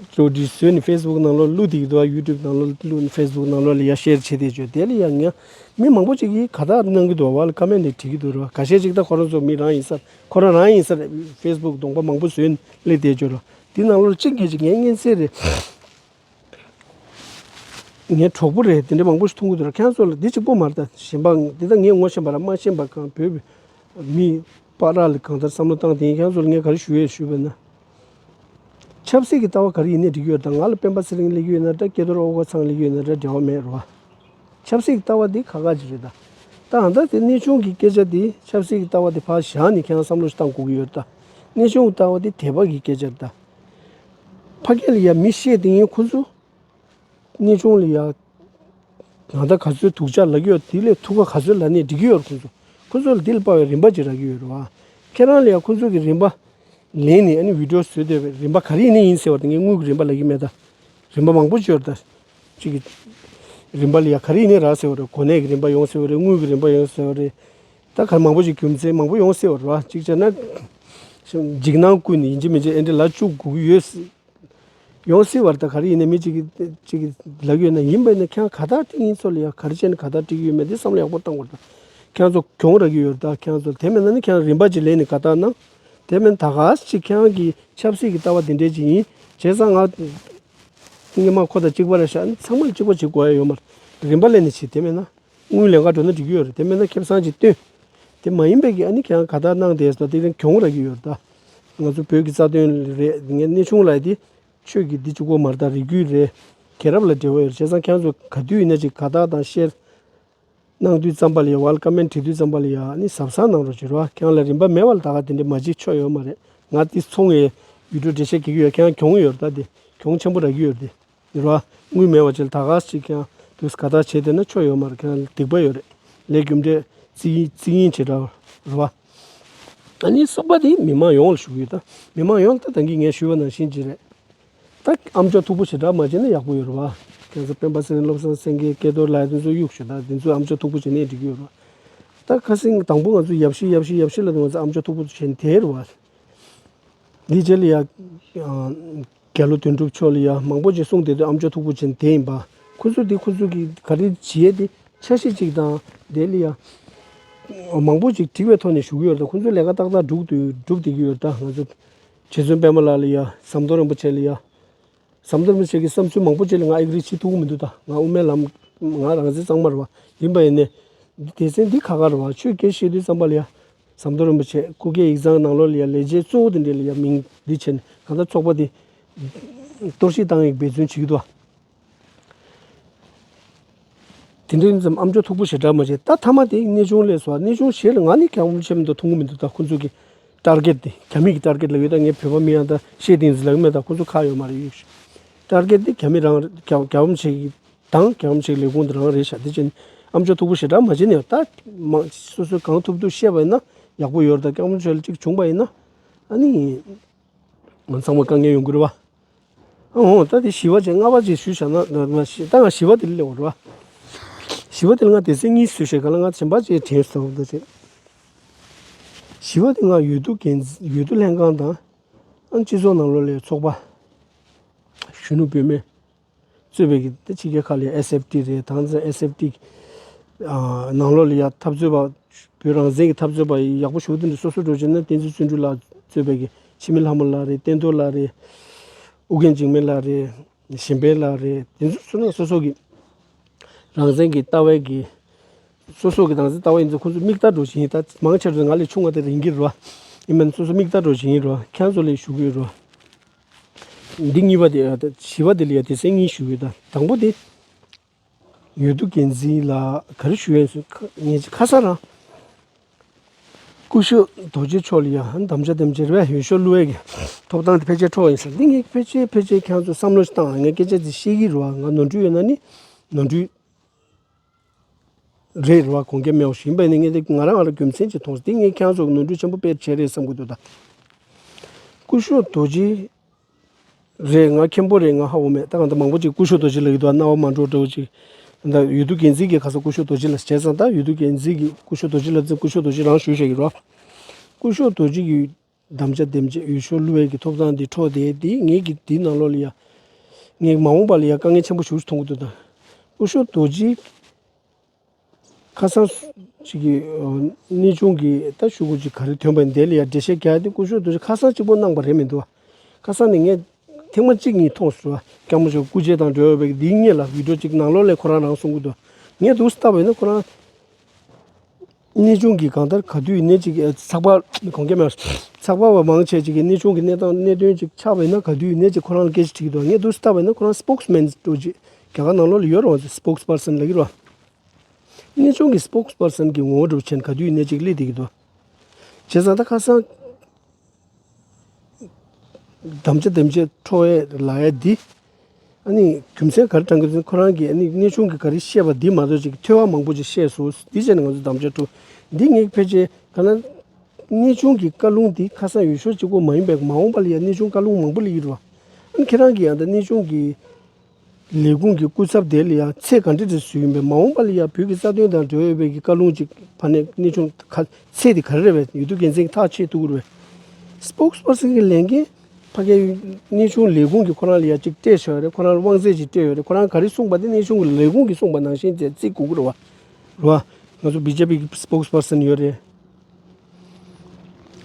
གཙོ་བདུད་བསོད་ནི་ཧྥེ་སི་བུག་ནང་ལོགས་གླུ་དེའི་དོ་ཡུ་ཏུབ་ནང་ལོགས་གླུ་ཧྥེ་སི་བུག་ནང་ལོགས་ལ་ཡར་ཤེར་བྱས་ཏེ་བྱོས་དེ་ལ་ཡང་ངས་མི་མང་པོ་ཅིག་གིས་ག་དག་གནང་གི་འདུག་བ་ལ་ཀ་མེད་ནས་བྲིས་ཀི་འདུག་རོ་ག་ཤེར་ཅིག་ད་ཁོ་རང་ཚོ་མི་རང་ཡིན་སར་ཁོ་རང་རང་ཡིན་སར་ཧྥེ་སི་བུག་གདོང་པ་མང་པོ་བཟོས་ནས་སླེབས་ཏེ་བྱོས་རོ་དེའི་ནང་ལོགས་ལ་ཅི་འགལ་ཅི་ངའི་གཉེན་ཚེ་རེད། ངའི་གྲོགས་པོ་རེད་དེ་འདྲ་མང་པོ་ཞིག་མཐོང་གི་འདུག་ར་ཁྱེད་རང་ཚོ་ལ་དེ་གཅིག་པོ་མ་རེད་ད་གཞན་པའང་འདི་ལྟར་ངས་ངོ་ཤེས་པ་ར་མ་ཤེས་པ་གང་བོད་མི། པ་ར་ལ་གང་ལྟར་བསམ་བློ་བཏང་དེ་ཡིན་ཁྱང་ཚོར་ངས་ག་རེ་ཞུ་ཡོད་ཞུས་པ་ན། ཆབ་སྲིད་ཀྱི་ལྟ་བ་ག་རེ་ཡིན་ནས་འགྲིག་ཡོད་དང་ང་ལ་སྤེན་པ་ཚེ་རིང་གླེགས་ཡོད་ན་འདྲ་སྐལ་རྡོར་ཨོ་གོ་ཚང་གླེགས་ཡོད་ན་འདྲ་འབྲེལ་བ་མེད་རོ། ཆབ་སྲིད་ཀྱི་ལྟ་བ་དེ་ཁ་ཁ་ཅིག་རེད་ད། ད་ཧ་ད་དེ་གནས་ཆུང་གི་སྐད་ཆ་དེ་ཆབ་སྲིད་ཀྱི་ལྟ་བ་དེ་ཕར་བཞག་ནས་ཁྱང་བསམ་བློ་བཏང་གུག་ཡོད་ད། གནས་ཆུང་གི་ལྟ་བ་དེ་དད་པ་གི་སྐད་ཆ་རེད་ད། ཕ་སྐད་ལ་ཡ་མི་ཤེས་དེ་ཡིན་ཁོ་ཚོ། གནས་ཆུང་ལ་ཡང་ཡང་དག་ག་ཚོད་ཐུགས་ཅག་ལག་གཡོག་དེ་ལས་ཐུགས་ཀ་ག་ཚོད་ལ་ནས་འགྲིག་གི་ཡོད་རེད་ཁོང་ཚོ་ཁོང་ཚོ་ལ་དེ་ལ་དཔའ་བའི་རིན་པ་ཅིག་རག་གི་ཡོད་རེད་བ། ཁྱེད་རང་ལ་ཡང་ཁོང་ཚོ་གི་རིན་པ་ལེན་ནས་ཨ་ནི་བིདྲོ་བཟོས་འདོད་པའི་རིན་པ་ག་རེ་ནས་ཡིན་ཟེར་བ་དེ་ངས་དངུལ་གི་རིན་པ་ལ་ཡིན་མེད་ད་རིན་པ་མང་པོ་བཅོལ་ད་ཅིག་གི་རིན་པ་ལ་ཡང་ག་རེ་ནས་རག་ཟེར་བ་རེད་གོ་གནས་གི་རིན་པ་ཡོང་ཟེར་བ་རེད་དངུལ་གི་རིན་པ་ཡོང་ཟེར་བ་རེད་ད་ག་རེ་མང་པོ་ཅིག་རྒྱུ་མཚན་མང་པོ་ཡོང་ཟེར་བ་རེད་བ་གཅིག་བྱས་ན། འཇིགས་སྣང་ཀུན་ནས་ཡིན་གཅིག་མིན་གཅིག་ཨེ་འདྲ་ལ་ཅུག་སྒུག་གི་ཡོད། ཡོང་སྲིད་བར་ད་ག་རེ་ཡིན་ནམ་མི་གཅིག་གིས་ལབ་ཡོད་ན་ཡིན་པས་ན་ཁྱེད་ག་དག་ཐིང་ཡིན་ཚོ་ལ་ཡང་ག་རེ་བྱས་ནས་ག་དག་བཀྲིས་ཡོད་མེད་དེ་བསམ་བློ་ཡག་པོ་བཏང་བར་ད་ཁྱེད་ཚོ་གྱོང་རག་གི་ཡོད་ད་ཁྱེད་ཚོ་དེ་མེད་ན་ནི་ཁྱེད་རང་རིན་པ་ཅིག་ལེན་ནས་ག་དག་གནང། དེ་མེད་ན་ད་ག་ཅིག་ཁྱེད་རང་གི་ཆབ་སྲིད་ཀྱི་ལྟ་བ་དེ་འདྲས་ཅིག་ཡིན་བྱས་ཙང་ང་ཐིང་གི་དམངས་ཁོ་ད་གཅིག་པ་རེད་ཤག་ཚང་མ་ལ་གཅིག་པ་བྱེད་དགོས་ཡ་ཡོད་མ་རེད་རིན་པ་ལེན་ནས་བྱེད་དེ་མེད་ན་དངུལ་ལེན་ག་འགྲོ་ན་འགྲིག་གི་ཡོད་རེད་དེ་མེད་ན་ཁེབས་སང་ཅིག་བཏོན་དེ་མ་ཡིན་པས་ཀྱི་ཨ་ནི་ཁྱེད་རང་ག་དག་གནང་དེ་ད་ཐིང་རང་གྱོང་རག་གི་ཡོད་ད། ང་ཚོ་བོད་ཀྱི་རྩ་དོན་རེད་ངས་གནས་ཆུང་ལ་དེ་ཆོས་ཀྱི་འདི་ཅི་གོ་མ་རྟག་རིགས་རྒྱུད་རེད་གས་རབ་ལ་འབྲེལ་བ་ཡོད་བྱས་ཙང་ཁྱང་ཚོས་ག་དུས་ཡིན་ན་ཅིག་ག་དག་དང་བཤེར་གནང་དུས་ཙམ་པ་ལ་ཡ་བ་ལ་ཀ་མན་དྲི་དུས་ཙམ་པ་ལ་ཡ་ནི་ཟབ་གསང་གནང་རོགས་བྱོས་རོགས་ཨ་ཁྱང་ལ་རིན་པ་མེད་བ་ལ་ད་ག་དེ་འདྲའི་མ་འཇིགས་ཆོག་ཡོད་མ་རེད་ང་དེ་འཚོ་ངའི་ཡུལ་གྲོ་འབྲེལ་བཤད་གེ་གི་ཡོད་ཁྱང་གྱོང་ཡོད་ར་ད་དེ་གྱོང་ཆེན་པོ་ར་གི་ཡོད་དེ། འགྱུར་བ་དངོས་མེད་བ་ཅི་ལ་ད་ག་ཅིག་ཀྱང་དུས་སུ་ག་ལྟར་བྱེད་དེ་ནི་ཆོས་ཡོད་མ་རེད་ཁྱེད་རང་ལ་སྡིག་པ་ཡོད་རེད་ལས་རྒྱུ་འབྲས་རྩིས་ཡིན་རྩིས་ཡིན་བྱེད་དྲ་བ་ཨ་ནི་སོག་པ་དེ་མི་མང་ཡོངས་ལ་ཞུ་གི་ཡོད་ད་མི་མང་ཡོངས་ལ་ད་ཐེངས་ཀྱི་ངས་ཞུས་པ་ནང་བཞིན་གྱི་རེད་ད་ཨ་མཆོག་མཐུག་པོ་བྱེད་དྲ་མ་བྱེད་ན་ཡག་པོ་ཡོད་རེད་བ་ཁྱེད་ཚོ་སྤེན་པ་ཚེ་རིང་བློ་བཟང་སེང་གེ་སྐལ་རྡོར་ལགས་དེ་ཚོ་གཡུག་ཞུ་ད་དེ་ཚོས་ཨ་མཆོག་མཐུག་པོ་བྱེད་ནས་འགྲིག་གི་ཡོད་རེད་བ་ད་ཁ་སེང་དང་པོ་ང་ཚོ་ཡབ་གཞིས་ཡབ་གཞིས་ཡབ་གཞིས་ལ་ང་ཚོ་ཨ་མཆོག་མཐུག་པོ་བྱེད་དེ་རེད་བ་དེ་རྗེས་ལ་ཡ་རྒྱལ་ལོ་དོན་གྲུབ་མཆོག་ལ་ཡང་མང་པོ་ཞིག་གསུངས་དེ་དོན་ཨམ་ཅོག་མཐུག་པོ་ཅན་དེ་ཡིན་པ། ཁོ་ཚོས་དེ་ཁོ་ཚོ་གི་ག་རེ་བྱས་ཏེ་འཆར་གཞི་གཅིག་དང་དེ་ལ་ཡང་མང་པོ་ཞིག་བྲིས་པའི་ཐོག་ནས་ཞུ་གི་ཡོད་ད་ཁོ་ཚོའི་ལས་ཀ་ཏག་ཏག་སྒྲུག་ཏུ་སྒྲུབ་བསྡད་ཀྱི་ཡོད་ད་ང་ཚོ་རྗེ་བཙུན་པད་མ་ལགས་ལ་ཡང་ཟམ་གདོང་རིན་པོ་ཆེ་ལ་ཡང་ཟམ་གདོང་རིན་པོ་ཆེ་གི་བསམ་ཚུལ་མང་པོ་ཅིག་ལ་ང་ཨེ་ཀི་རེ་བྱེད་ཐུབ་ཀྱི་མི་འདུག་ད་ང་དབུ་མའི་ལམ་ང་རང་བཙན་གཙང་མ་རེད་བ་ཡིན་པ་ཡིན་ནས་སྡེ་ཚན་འདི་ཁ་ཁ་རེད་བ་ཆོས་ཁས་བཤད་དུས་བརྩམས་པ་ལ་ཡང་ཟམ་གདོང་རིན་པོ་ཆེས་སྐུ་སྒེར་ཡིག་ཚང་ནང་ལོ་ལེགས་ལས་བྱེད་གཙོ་བོ་དེ་འདྲས་ལ་ཡང་མིང་འདི་བྱས་ནས་གང་ལྟར་ཚོགས་པ་དེ་གཏོར་བཤིག་བཏང་ཡག་འབད་བརྩོན་བྱེད་ཀྱི་འདུག་དེ་འདྲས་ཙམ་ཨམ་ཅོག་འཐུག་པོ་ཞེ་དྲག་མ་བྱེད་ད་མཐའ་མ་དེ་གནས་ཆུང་ལས་སོ་གནས་ཆུང་བྱེད་ལ་ང་ནི་གང་བྱེད་མི་འདུག་མཐོང་གི་མི་འདུག་ད་ཁོང་ཚོ་གི་ཀྲར་ཀེར་དེ་གྱ་མི་གི་ཀྲར་ཀེར་ལ་ཡོད་ད་ངས་བོད་པ་མི་ཡང་ད་ཤེས་ཏིང་ཟིག་ལ་ཡོད་མེད་ད་ཁོང་ཚོ་ཁག་ཡོད་མ་རེད་ཡོད་ཤེས་ཀྲར་ཀེར་དེ་གྱ་མི་རང་གྱ་བ་མི་བྱེད་གི། དང། གང་ཞིག་ལས་ཁུངས་འདིར་རང་རེའི་ཞབས་འདེགས་ཅན་ཨམ་ཅོག་ཐུག་པོ་ཞེ་དྲག་མ་བྱས་ནས་ད་མང་སོ་སོས་གང་ཐུབ་ཐུབ་བཤད་པ་ཡིན་ན་ཡག་པོ་ཡོད་ད་སྐྱག་མོ་ཆོལ་གཅིག་བྱུང་པ་ཡིན་ན་ཨ་ནི་ང་ཚང་མ་དཀའ་ངལ་ཡོང་གི་རེད་བ། ཨ་འོང་ད་དེ་ཞི་བ་ཅན་ལྔ་པ་ཅིག་ཞུས་བྱ་ན་ད་ང་ཞི་ད་ང་ཞི་བ་དེ་ལས་འོང་རེད་བ། ཞི་བ་དེ་ལ་ང་དེ་ཚོའི་གཉིས་སུ་བྱས་ག་ལ་ང་བྱམས་པ་ཅན་དྲན་སོ་བ་རེད། ཞི་བ་དེ་ང་ཡོད་དུ་འགན་འཛིན་ཡོད་དུ་ལྷན་ཁང་དང། ཨ་སྤྱི་ཚོགས་ནང་ལོ་ལེགས་ཚོགས་པ། གཞོན་ནུ་བུད་མེད། རྩོད་པའི་ཕྱི་རྒྱལ་ཁག་ལས SFT རེད་དང་ཚེ SFT ནང་ལོགས་ལ་ཡང་འཐབ་རྩོད་པ་བོད་རང་བཙན་གྱི་འཐབ་རྩོད་པ་ཡག་པོ་ཞུགས་ཏེ་འདི་སོ་སོ་འགྲོ་ཆེད་ན་བསྟན་འཛིན་བརྩོན་འགྲུས་ལགས་རྩོད་པའི་གི་ཕྱི་མི་ལྷ་མོ་ལགས་རེད་བསྟན་རྡོར་ལགས་རེད་ཨུ་རྒྱན་འཇིགས་མེད་ལགས་རེད་གཞན་ཕན་ལགས་རེད་དེ་ཚོ་སོ་སོ་སོ་གི་རང་བཙན་གྱི་ལྟ་བའི་གི་སོ་སོ་གི་རང་བཙན་ལྟ་བ་ཡིན་ཚོ་ཁོང་ཚོ་མིག་ལྟ་འགྲོ་བཞིན་ཡིན་ད་མང་ཆེ་བ་ཚོ་ང་ལས་ཆུང་བ་དེ་རིང་གི་རོ་ཡིན་མིན་སོ་སོ་མིག་ལྟ་འགྲོ་བཞིན་ཡིན་རོ་ཁྱེད་རང་ཚོ་ལས་ཞུགས་ཡོད་རོ། འདི་གཉིས་པ་དེ་བྱིས་པ་དེ་ལ་ཡང་དེ་སྲིད་གཉིས་ཞུ་བའི་དང་དང་པོ་དེ། ཡོད་དུ་འགན་འཛིན་ལ་ག་རེ་ཞུ་ཡང་ཟེར་ངེད་ཀྱི་ཁ་སང་རང། སྐུ་ཞབས་རྡོ་རྗེ་མཆོག་ལ་ཡང་དམ་བཅའ་དེ་འཇལ་བས་ཡོད་ཤོག་གླུ་བ་གི་ཐོབ་ཐང་དེ་ཕལ་ཆེར་འཕྲོག་ཡིན་ཟེར་འདི་ངས་ཕལ་ཆེར་ཕལ་ཆེར་ཁྱེད་ཚོས་བསམ་བློ་བཏང་ང་སྐད་ཆ་དེ་བཤད་ཀྱི་རུང་ང་ནོར་འཁྲུལ་ཡོད་ན་ནི་ནོར་འཁྲུལ། རེད་རེད་བ་གོང་གི་མིའོ་ཞིན་པེ་ནི་ངས་ང་རང་ཨ་རོ་རྒྱུ་མཚན་གྱིས་མཐོང་སྟེ་ངས་ཁྱེད་ཚོར་ནོར་འཁྲུལ་ཆེན་པོ་སྤེལ་བྱས་རེད་བསམ་གྱི་འདུག་ད། ཀུ་ཤུ་རྡོ་རྗེ། རེད་ང་མཁན་པོ་རེད་ང་ཧ་འོ་མེད་ད་གང་ལྟར་མང་པོ་ཅིག་ཀུ་ཤུ་རྡོ་རྗེ་ལ་ཡོད་དོ་ཨ་རྣ་བ་མ་འདྲོག་འདྲོག་ཅིག། ད་ཡུལ་དུ་འགན་འཛིན་གྱིས་ག་ས་ཀུ་ཤུ་རྡོ་རྗེ་ལ་བྱས་ཙང་ད་ཡུལ་དུ་འགན་འཛིན་གྱིས་ཀུ་ཤུ་རྡོ་རྗེ་ལ་བརྩིས་ཀུ་ཤུ་རྡོ་རྗེ་རང་ཞུ་བྱས་ཀྱི་རོགས། ཀུ་ཤུ་རྡོ་རྗེ་ཡུལ། དམ་བཅའ་འདེམས་བྱེད་ཡུལ་ཤོ་ལུ་ཝེ་ཀི་ཐོབ་ཐང་དེ་འཕྲོག་སྟེ་དེའི་ངེད་ཀྱི་དེའི་ནང་ལོགས་ལ་ཡང། ངེད་མ་འོངས་པ་ལ་ཡང་དཀའ་ངལ་ཆེན་པོ་ཞུགས་སུ་མཐོང་གི་འདུག་དང། སྐུ་ཞོ་རྡོ་རྗེའི་ཁ་སང་གཅིག་གི་གནས་ཆུང་གི་ལྟ་ཞུ་སྐོར་གཅིག་ག་རེ་ཐོན་པ་འདི་ལ་ཡང་འགྲེལ་བཤད་རྒྱག་དེ་སྐུ་ཞོ་རྡོ་རྗེ་ཁ་སང་གཅིག་པོ་གནང་པ་རེད་མི་འདུག་ཁ་སང་ནས་ངས་ཐེངས་མ་གཅིག་གཉིས་མཐོང་སོང་སྐྱ་མོ་ཞིག་སྐུ་རྗེ་དང་འབྲེལ་བ་བའི་འདིའི་གཉིས་ལ་བིད་འགྲོ་གཅིག་ནང་ལོགས་ལས་ཁོ་རང་རང་གསུང་གི་འདུག་ངས་འདུག་སྟབས་ཡིན་ན་ཁོ་རང། གནས་ཆུང་གིས་གང་ལྟར་ག་དུས་ཡིན་ནའི་ཅིག་ཚགས་པར་གོང་གསལ་མ་རེད། ཚགས་པར་བ་མང་ཆེ་ཅིག་གིས་གནས་ཆུང་གི་གནས་སྟངས་གནད་དོན་ཅིག་ཆགས་པས་ན་ག་དུས་ཡིན་ནའི་ཅིག་ཁོ་རང་ལ་སྐད་ཆ་དྲིས་ཀྱི་འདུག་ངས་དུས་སུ་ལྟ་བས་ན་ཁོ་རང Spokesman ལྟོས་ཀྱིས་རྒྱ་གར་ནང་ལོགས་ལ་ཡོད་རུང་བ Spokesperson ལགས་ཀྱི་རུང་བ། གནས་ཆུང་གི Spokesperson གྱི་ངོ་བོ་གྲུབ་ཆེན་ག་དུས་ཡིན་ནའི་ཅིག་གླེང་བསྡད་ཀྱི་འདུག་བྱས་ཙང་ད་ཁ་སང། དམ་བཅའ་དེ་བཅས་འཕྲོ་བའི་ལ་ཡ་འདི། ཨ་ནི་རྒྱུ་མཚན་ག་རེ་དྲངས་ཀྱི་ཁོ་རང་གིས་ཨ་ནི་གནས་ཆུང་གིས་ག་རེ་བཤད་པ་འདི་མ་གཏོགས་ཅིག་ཐོས་བ་མང་པོ་ཅིག་བཤད་སོང་དེ་བྱས་ནས་ང་ཚོ་དམ་བཅའ་འཕྲོ། འདི་ངེས་ཕལ་ཆེར་ག་ན་གནས་ཆུང་གི་བཀའ་ལུང་འདི་ཁ་སང་ཡུལ་ཤོག་གཅིག་པོ་མ་ཡིན་པའི་མ་འོངས་པ་ལ་ཡང་གནས་ཆུང་བཀའ་ལུང་མང་པོ་ལ་ཡིར་བ། ཨ་ནི་ཁྱེད་རང་གིས་ཡང་དག་གནས་ཆུང་གི་ལས་ཁུངས་ཀྱི་སྐུ་ཚབ་དེ་ལ་ཡང་ཚེ་གང་དྲིལ་དྲིལ་བཟོས་ཡིན་པས་མ་འོངས་པ་ལ་ཡང་བོད་ཀྱི་རྩ་དོན་དང་འབྲེལ་བའི་བོད་ཀྱི་བཀའ་ལུང་གཅིག་བར་ནས་གནས་ཆུང་ཁ་ཚེ་དེ་ག་རེ་རེ་བས་ཡོད་དུས་འགན་འཛིན་གྱི་ཐག་ཆེད་དུ་བསྐུར་བས། Spokesperson། གྱི་ལས་འགན་ཕ་གའི་གནས་ཆུང་ལས་ཁུངས་ཀྱིས་ཁོ་རང་ལ་ཡང་ཅིག་སྤྲད་བྱས་པ་རེད་ཁོ་རང་ལ་དབང་ཚད་ཅིག་སྤྲད་ཡོད་རེད་ཁོ་རང་ག་རེ་གསུངས་པ་དེ་གནས་ཆུང་གི་ལས་ཁུངས་ཀྱིས་གསུངས་པ་ནང་བཞིན་དེ་རྩིས་དགོས་ཀྱི་རེད་བ། རེད་བ། ང་ཚོ་བྷི་ཇེ་པི་གྱི Spokesperson ཡོད་རེད།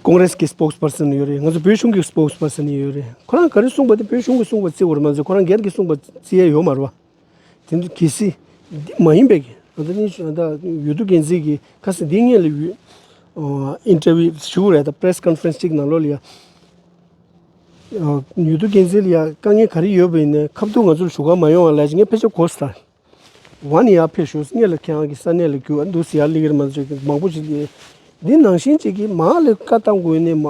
ཀོང་རེས་ཀྱི་སྤོགས་པར་སོན་ཡོད་རེད་ང་ཚོ་བོད་གཞུང་གི་སྤོགས་པར་སོན་ཡོད་རེད་ཁོ་རང་ག་རེ་གསུངས་པ་དེ་བོད་གཞུང་གི་གསུངས་པ་བརྩི་བར་མ་ཟད་ཁོ་རང་སྒེར་གྱི་གསུངས་པ་བརྩི་ཡས་ཡོད་མ་རེད་བ། དེ་ནི་གལ་སྲིད་འདི་མ་ཡིན་པའི་གི་ང་ཚོ་གཉིས་ཤོད་ད་ཡོད་དུ་གལ་སྲིད་གི་ཁ་སི་འདི་ངས་ལི་ཡུལ་ཨིན་ཏེ་ཝི་ཞུ་གི་རེད་ད་པྲེས་ཀོན་ཧྥེ་རེན་ཅིག་ནང་ལོགས་ལི་ཡ་ཡོད་དུ་གལ་སྲིད་ལི་ཡ་དཀའ་ངལ་ག་རེ་ཡོད་པའི་ནས་ཁ་བརྡུང་ང་ཚོར་ཞུ་ག་མ་ཡོང་བ་ལས་ཀྱི་ངས་ཕལ་ཆེར་གོ་སི་ད། ཝཱ་ནི་ཡར་ཕེབས་བྱུང་སྙེ་ལ་ཁྱེད་རང་གི་ས་གནས་ལ་རྒྱུ་བ་འདུག་ཟེར་ཡར་ལིག་རི་མ་ཟེར་མང་པོ་ཞིག་ཡོད། འདི་ནང་བཞིན་བྱེད་ཀྱི་མ་ལི་ཀ་ལྟ་དགོས་ནས་མ་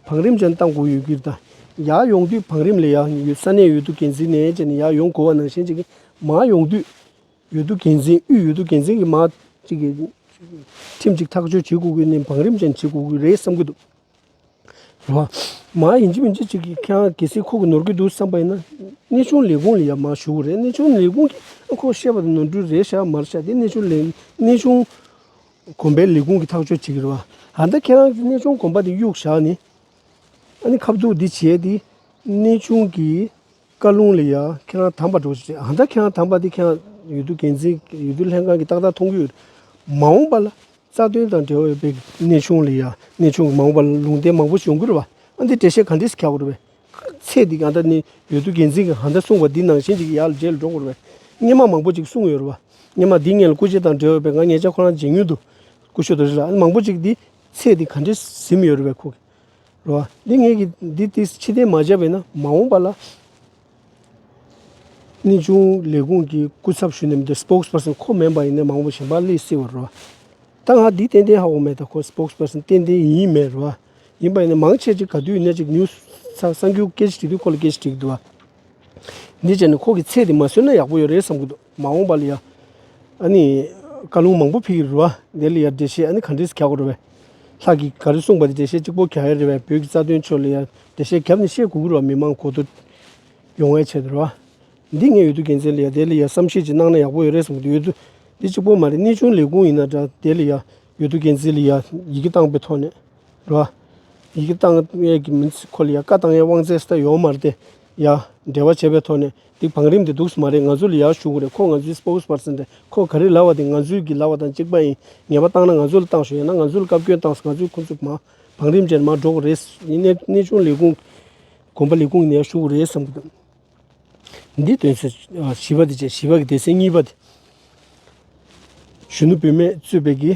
བང་རིམ་ཅན་ལྟ་དགོས་ཡོད་གིར་དང་ཡར་ཡོང་དུས་བང་རིམ་ལས་ཡར་ཡོད་ས་གནས་ཡོད་དུ་གན་ཟིག་ནས་བྱས་ནས་ཡར་ཡོང་དགོས་བ་ནང་བཞིན་བྱེད་ཀྱི་མ་ཡོང་དུས་ཡོད་དུ་གན་ཟིག་དབུས་ཡོད་དུ་གན་ཟིག་གི་མ་ཅིག་གིས་ཁྲིམས་ཅིག་ཐག་གཅོད་བྱེད་དགོས་གི་ནས་བང་རིམ་ཅན་བྱེད་དགོས་གི་རེད་བསམ་གི་འདུག། མ་ཡིན་གཅིག་མིན་གཅིག་གཅིག་གིས་ཁྱེད་རང་གལ་སྲིད་ཁོག་གི་ནོར་གི་འདུག་བསམ་པ་ཡིན་ན། གནས་ཆུང་ལས་ཁུངས་ལ་ཡར་མར་ཞུ་གི་རེད་གནས་ཆུང་ལས་ཁུངས་ཀྱིས་ཁོག་བཤད་པ་དང་ནོར་འཁྲུལ་རེད་བཤད་མར་བཤད་དེ་གནས་ཆུང་ལས་གནས་ཆུང་གོམ་པའི་ལས་ཁུངས་ཀྱིས་ཐག་གཅོད་བྱེད་ཀྱི་རེད་བ། ད་ལྟ་ཁྱེད་རང་གིས་གནས་ཆུང་གོམ་པ་དེ་གཡུགས་བཞག་ནས། ཨ་ནི་ཁ་བསྡུར་འདི་བྱས་ཏེ་གནས་ཆུང་གིས། བཀའ་ལུང་ལས་ཡང་ཁྱེད་རང་དམ་པར་འགྲོ་ཞེས་བྱས། ཨ་མྲ་ཁྱེད་རང་དམ་པ་དེ་ཁྱེད་རང་ཡུལ་དུ་འགན་འཛིན་ཡུལ་དུ་ལྷན་ཁང་གི་ཏག་ཏག་མཐོང་རྒྱུ་ཡོད། མ་འོངས་པ་ལ་རྩ་དོན་དང་འབྲེལ་བ་ཡོད་པའི་གནས་ཆུང་ལས་ཡང་གནས་ཆུང་གི་མ་འོངས་པ་ལ་ལུང་བསྟན་མང་པོ་བྱུང་དགོས་རེད་བ། ཨ་འདི་འགྲེལ་བཤད་ག་འདྲས་སུ་གྱ་དགོས་རེད་བས། ཚེ་འདི་ག་འདྲ་ནས་ཡུལ་དུ་འགན་འཛིན་གྱིས་ག་འདྲ་གསུངས་པ་འདི་ནང་བཞིན་གྱི་ཡག་ལ་བརྗེད་ལ་འགྲོ་དགོས་རེད་བས། སྙན་མང་མང་པོ་ཅིག་གསུངས་ཡོད་རེད་བ། སྙན་མང་འདི་ངེད་ལ་སྐུ་ཕྱེ་དང་འབྲེལ་བ་ཡོད་པས་ང་ངེད་ཅག་ཁོ་རང་མཇལ་མྱུར་དུ་སྐུ་ཞོལ་དུ་རེད་ལ་ཨ་ནི་མང་པོ་ཅིག་འདི་ཚེ་འདི་ག་འདྲས་སུ་གཟིམས་ཡོད་རེད་བས་ཁོ་གིས། རེད་བ། འདི་ངེད་ཀྱི་འདི་དེ་ཕྱི་གཏན་མ་བྱས་པས་ན་མ་འོངས་པ་ལ། གནས་ཆུང་ལས་ཁུངས་ཀྱི་སྐུ་ཚབ་ཞུས་ནས་མི་འདུག Spokes Person ཁོ་མེད་པ་ཡིན་ན་མ་འོངས་པ་ཞིག་འབའ་ལི་སི་བ་རེད་བ། ད་ང་འདི་ཏན་ཏན་ཧ་གོ་མེད་ད་ཁོ Spokes Person ཏན་ཏན་ཡིན་ཡིན་མེད་རེད་བ། ཡིན་པ་ཡིན་ན་མང་ཆེ་གཅིག་ག་དུས་ཡིན་ན་གཅིག་ཉུ་ཚགས་གསར་འགྱུར་སྐད་ཆ་དྲིས་དུས་ཁོ་ལ་སྐད་ཆ་དྲིས་ཀྱི་འདུག་བ། འདི་བྱས་ནས་ཁོ་གི་ཚེ་དེ་མ་ཟོས་ན་ཡག་པོ་ཡོད་རེད་བསམ་གྱི་འདུག། མ་འོངས་པ་ལ་ཡང་ཨ་ནི་བཀའ་ལུང་མང་པོ་ཕེབས་ཀྱི་རུ་བ་འདི་ལ་ཡང་འགྲེལ་བཤད་ཨ་ནི་ག་འདྲས་སུ་གྱག་གོ་རུ་བས། ལྷག་གིས་ག་རེ་གསུངས་པ་དེ་འགྲེལ་བཤད་གཅིག་པོ་གྱག་ཡ་རེད་བས་བོད་ཀྱི་རྩ་དོན་ཆོས་ལ་ཡང་འགྲེལ་བཤད་གྱབ་ནས་བཤད་གོ་གི་རུ་བ་མི་མང་གོ་ཐུ་ཡོང་བའི་ཆེད་དུ་རུ་བ། འདི་ངས་ཡོད་དུ་རྒྱལ་མཚན་ལ་ཡང་དེ་ལ་ཡང་བསམ་ཤེས་ཀྱིས་གནང་ན་ཡག་པོ་ཡོད་རེད་གསུངས་པ་དེ་ཡོད་དུ་འདི་གཅིག་པོ་མ་རེད་གནས་ཆུང་ལས་ཁུངས་ཡིན་ན་འདྲ་དེ་ལ་ཡང་ཡོད་དུ་རྒྱལ་མཚན་ལ་ཡང་ཡི་གེ་བཏང་པའི་ཐོག་ནས་རུ་བ། ཡི་གེ་བཏང་ཡས་ཀྱི་མི་ཚེ་ཁོ་ལ་ཡང་བཀའ་བཏང་ཡས་དབང་ཚད་སི་ད་ཡོང་མ་རེད་དེ་ཡང་འབྲེལ་བ་བྱས་པའི་ཐོག་ནས་དེ་བང་རིམ་དེ་འདུག་སོ་མ་རེད་ང་ཚོ་ལ་ཡག་བྱུང་གོ་རེད་ཁོ་ང་ཚོའི Spokes Person རེད་ཁོ་ག་རེ་ལབ་བ་དེ་ང་ཚོའི་གི་ལབ་བ་དང་གཅིག་པ་ཡིན་ངེས་པ་བཏང་ན་ང་ཚོ་ལ་བཏང་བྱུང་ཡང་ན་ང་ཚོ་ལ་བཀའ་བཀྱོན་བཏང་ང་ཚོའི་ཁོ་ཚོ་མ་བང་རིམ་ཅན་མ་འགྲོ་གོ་རེད་གནས་གནས་ཆུང་ལས་ཁུངས་གོམ་པ་ལས་ཁུངས་ནས་ཡག་བྱུང་གོ་རེད་བསམ་གི་འདུག་འདི་དོན་ཚོད་བཞི་པ་དེ་བཅས་བཞི་པ་གི་དེ་སྲིད་གཉིས་པ་དེ་གཞོན་ནུ་བུད་མེད་གཙོས་པའི་གི།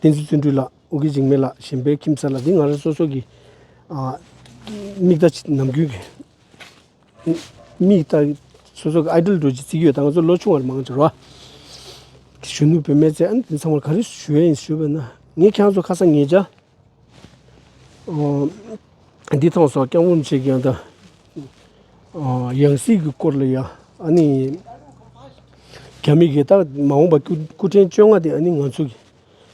བསྟན་འཛིན་བརྩོན་འགྲུས་ལགས་འུ་གི་འཇིགས་མེད་ལགས་གཞན་པའི་ཁྱིམ་མཚར་ལ་འདི་ང་རང་སོ་སོ་གི་མིག་ལྟ་ཅི་ནམ་རྒྱུན་གྱི་མིག་ལྟ་གི་སོ་སོ་གི་ཨའི་དྲིལ་འགྲོ་ཅི་རྩིས་ཀྱི་ཡོད་ད་ང་ཚོ་ལོ་ཆུང་བར་མང་ཆར་བ་གཞོན་ནུ་བུད་མེད་ཚེ་ཨ་ནི་དེ་ཚང་མར་ག་རེ་ཞུ་ཡ་ཡིན་ཞུས་པ་ན་ངས་ཁྱེད་རང་ཚོ་ཁ་སང་ངེད་ཅག་བདེ་ཐང་སོགས་བསྐྱར་སྔོན་བྱེད་མཁན་དང། ཡང་སྲིད་ཀྱི་སྐོར་ལ་ཡང་ཨ་ནི་གད་མིག་གིས་ད་མ་འོངས་པ་སྐུ་སྐུ་ཕྲེང་བཅོ་ལྔ་དེ་ཨ་ནི་ང་ཚོ་གི་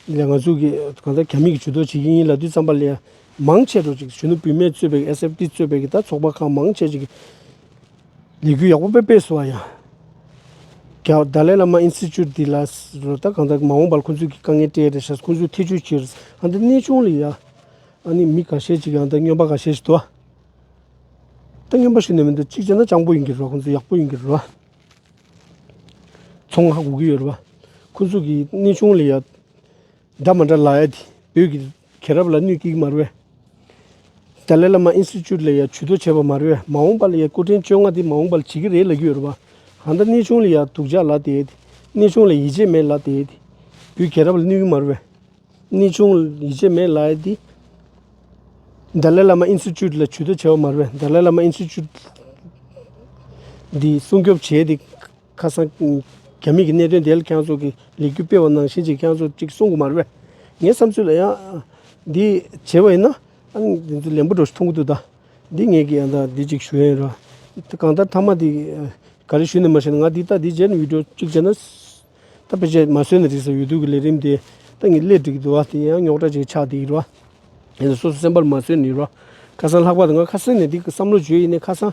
ལས་ང་ཚོ་གི་གང་ལྟར་གད་མིག་གིས་ཇུས་གཏོགས་བྱེད་ཀྱི་ཡིན་ལབ་དུས་བརྩམས་པ་ལས་མང་ཆེ་རུ་ཅིག་གཞོན་ནུ་བུད་མེད་གཙོས་པའི་ཨེ་སེབ་ཏི་གཙོས་པའི་གི་ད་ཚོགས་པ་ཁག་མང་ཆེ་ཅིག་གིས་ལས་འགུལ་ཡག་པོ་སྤེལ་སྤེལ་སོགས་ཡང་རྒྱ་བརྡ་ལས་བླ་མ་ཨིན་སི་ཅུ་དི་ལ་རོ་ལྟ་གང་དག་མ་འོངས་པར་ཁོང་ཚོས་ཀྱི་དཀའ་ངལ་སྤྲད་དེ་ཞག་ཁོང་ཚོས་ཐེ་ཇུས་ཁྱེར་ཨ་འདི་གནས་ཆུང་ལ་ཡང་ཨ་ནི་མི་ག་ཤས་ཅིག་ཡང་ད་སྨྱོན་པ་ག་ཤས་ཤིག་འདུག་ད་སྨྱོན་པ་ཞིག་ནས་མི་འདུག་གཅིག་བྱས་ན་སྤྱང་པོ་ཡིན་གྱི་རོ་ཁོང་ཚོ་ཡག་པོ་ཡིན་གྱི་རོ་ཚོང་ཧ་གོ་གི་ཡོད་རོ་ཁོང་ཚོས་ཀྱི་གནས་ཆུང་ལ་ཡང་འདྲ་མ་འདྲ་ལ་ཡ་དེ་བོད་ཀྱི་མཁན་རབས་ལ་གནོད་སྐྱིག་དམར་བས། ཏཱ་ལའི་བླ་མ་ཨིན་སི་ཅུད་ལ་ཡང་བྱུས་གཏོགས་བྱས་པ་དམར་བས་མ་འོངས་པ་ལ་ཡང་སྐུ་ཕྲེང་བཅོ་ལྔ་འདི་མ་འོངས་པ་ལ་བྱེད་ཀྱི་རེད་ལབ་ཀྱི་ཡོད་རེད་བ། གང་ལྟར་གནས་ཆུང་ལ་ཡང་སྡུག་ཅག་ལ་དེ། གནས་ཆུང་ལ་ཡིད་ཆེས་མེད་ལ་དེ། བུ་མཁན་རབས་ལ་གནོད་སྐྱིག་དམར་བས། གནས་ཆུང་ལ་ཡིད་ཆེས་མེད་ལ་དེ། ཏཱ་ལའི་བླ་མ་ཨིན་སི་ཅུད་ལ་བྱུས་གཏོགས་བྱས་པ་དམར་བས་ཏཱ་ལའི་བླ་མ་ཨིན་སི་ཅུད་འདི་སྲུང་སྐྱོབ་བྱས་ཏེ། ཁ་སང། རྒྱ་མིས་ཀྱི་གནད་དོན་དེ་ལ་ཁྱེད་རང་ཚོ་གིས་ལེགས་སྐྱུར་སྤེལ་བ་ནང་བཞིན་ཅིག་ཁྱེད་རང་ཚོ་ཅིག་གསུང་གི་མ་རེད་པས། ངའི་བསམ་ཚུལ་ལ་ཡང། འདི་བྱས་པ་ཡིན་ན། ལན་པོ་འགྲོ་ཞིག་མཐོང་གི་འདུག་ད། འདི་ངེད་ཀྱིས་ཡང་དག་འདི་ཅིག་ཞུ་ཡ་ཡིན་རོགས། དེ་གང་ལྟར་མཐའ་མ་དེ། ག་རེ་ཞུས་ནས་མ་བྱས་ན་ང་འདི་ལྟ་འདི་བྱས་ནས་བིད་འགྲོ་ཅིག་བྱས་ན། ད་ཕལ་ཆེར་མ་བཟོས་ན་རིགས་སོ་ཡོད་དུས་ཀྱི་ལས་རིམ་དེ། ད་ངས་སླད་བསྒྲིགས་འདུག་དེ་ཡང་རྙོག་དྲ་ཅིག་ཆགས་འདུག་རོགས། དེ་ནི་སོ་སོ་སེམས་པ་ལ་མ་བཟོས་ནས་རོགས། ཁ་སང་ལྷག་པར་དུ་ང་ཁ་སང་ནས་འདི་བསམ་བློ་བྱོས་ཡིན་ནས་ཁ་སང།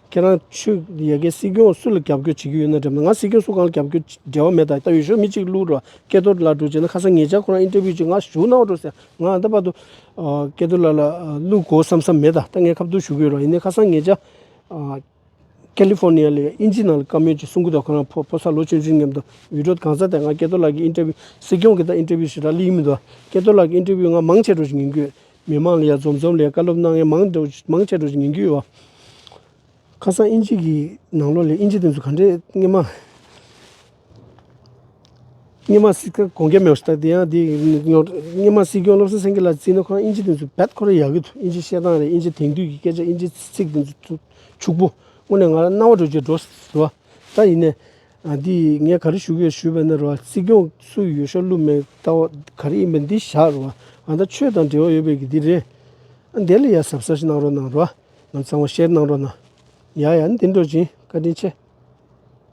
ཁྱེད་རང་ཆོས་ཡ་གི་སྲིད་སྐྱོང་སུ་ལ་རྒྱབ་སྐྱོར་བྱེད་ཀྱི་ཡོད་ན་དྲིས་པ་ང་སྲིད་སྐྱོང་སུ་གང་ལ་རྒྱབ་སྐྱོར་འབྲེལ་བ་མེད་ད་ལྟ་ཡོད་ཤོག་མི་གཅིག་བསླུ་རུ་སྐལ་རྡོར་ལགས་འགྲོ་བྱས་ན་ཁ་སང་ངེད་ཅག་ཁོ་རང་ཨིན་ཏེ་བྷིའུ་བྱས་ང་བཞུགས་གནང་བ་འགྲོ་ཟེར་ང་ད་བར་དུ་སྐལ་རྡོར་ལགས་ལ་བསླུ་དགོས་བསམ་བསམ་མེད་ད་ལྟ་ངས་ཁ་བརྡུར་ཞུ་གི་ཡོད་རོགས་ཡིན་ནའི་ཁ་སང་ངེད་ཅག་ཀལ་ལི་ཧྥོར་ནི་ཡ་ལས་ཨིན་ཇིའི་ནང་ལ་བཀའ་མོལ་གྱི་གསུང་སྐུ་དང་ཁོ་རང་ཕོ་ཕོ་སར་ལོ་ཆུང་ཆུང་མཉམ་དུ་འུད་སྒྲོག་གང་སར་དེ་སྔ་སྐལ་རྡོར་ལགས་ཀྱི་ཨིན་ཏེ་བྷིའུ་སྲིད་སྐྱོང་གི་ད་ཨིན་ཏེ་བྷིའུ་ཞེ་དྲག་བསླུས་ཡི་མི་འདུག་ཨ་སྐལ་རྡོར་ལགས་ཀྱི་ཨིན་ཏེ་བྷིའུ་ང་མང་ཆེ་བྲོ་ཞིག་ཡིན་དགོས། མི་མང་ལ་ཡང་འཛོམས་འཛོམས་ལས་བཀའ་སློབ་གནང་མཁན་མང་འདུག་མང་ཆེ་འགྲོ་ཞིག་ཉན་རྒྱུ་ཡོད། ཁ་སང་དབྱིན་ཇི་གི་ནང་ལོགས་ལས་དབྱིན་ཇི་དེ་ཚོ་ག་འདྲས་རྔན་མ། རྔན་མ་སི་ཁ་གོང་རྒྱ་མེ་ཤ་དེ་ཡང་དེ་རྔན་མ་སྲིད་སྐྱོང་བློ་བཟང་སེང་གེ་ལ་བརྩིས་ན་ཁོ་རང་དབྱིན་ཇི་དེ་ཚོ་བེད་ཁོ་རང་ཡག་གི་འདུག་དབྱིན་ཇི་བཤད་སྟངས་རེད་དབྱིན་ཇི་དེང་དུས་ཀྱི་སྐད་ཆ་དབྱིན་ཇི་ཚིག་དེ་ཚོ་ཕྱུག་པོ་དངོས་ནས་ང་རང་རྣ་བ་སྒྲོ་གཅིག་སྒྲོ་ཟེར་བ་ལྟར་ཡིན་ནས། ཨ་དེ་ངས་ག་རེ་ཞུ་གི་ཡོད་ཞུས་པ་ན་རོ་སྲིད་སྐྱོང་སུ་ཡོད་ཤོག་ཀླུ་མེ་ཏོག་ག་རེ་ཡིན་པ་འདི་བཞག་རོ་ཨ་ད་ཆོས་དང་འབྲེལ་བ་ཡོད་པའི་གི་འདི་རེད་ཨ་འདི་ལ་ཡ་ཟབ་ཟབ་ཞིག་གནང་རོགས་གནང་རོགས་ང་གཙང་བ་བཤད་གནང་རོགས་གནང་ཡ་ཡ་འདི་འགྲོ་ཅིང་བཀའ་དྲིན་ཆེ།